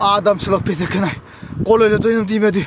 Adamçylyk pes ekenaý. Gol ele doýdum diýmedi.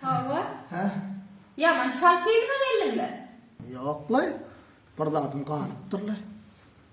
Hawa. Hä? Ýaman çalt ýerime geldiňmi? Ýok-laý. Bir zadym galypdyr-laý.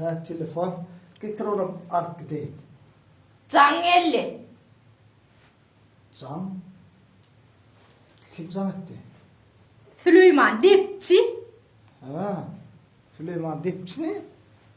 Hä telefon getir onam alyp gideýin. Jaň geldi. Jaň? Kim jaň etdi? Süleýman depçi. Hä. Süleýman depçimi?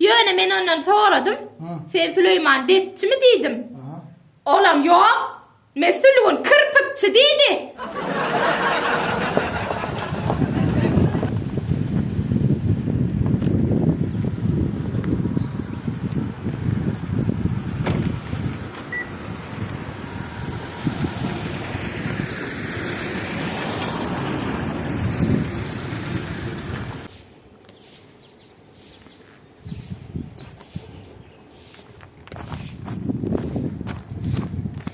Ýöne men ondan soradym, Ha. Sen Süleýman depçimi diýdim. Aha. Olam ýok. Men Sülgün kirpikçi diýdi.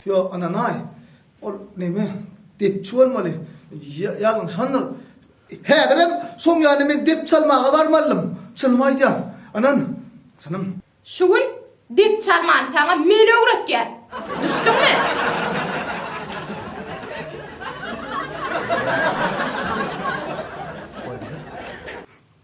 Ýo ananaý ol neme depçi bolmaly ýalňyşandyr. Häzirem şoň ýaly men dep çalmaga barmalydym. Çynymy aýdýan anan çynym. Şu gün dep çalmany saňa men öwretýän. Düşdüňmi?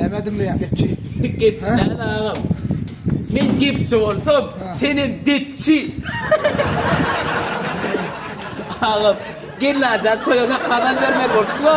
Näme diňleýän gepçi? Gepçi näme agam? Men gepçi bolsam, sen hem depçi. Agam, gelin ajan toýuna kazan bermek bolupla.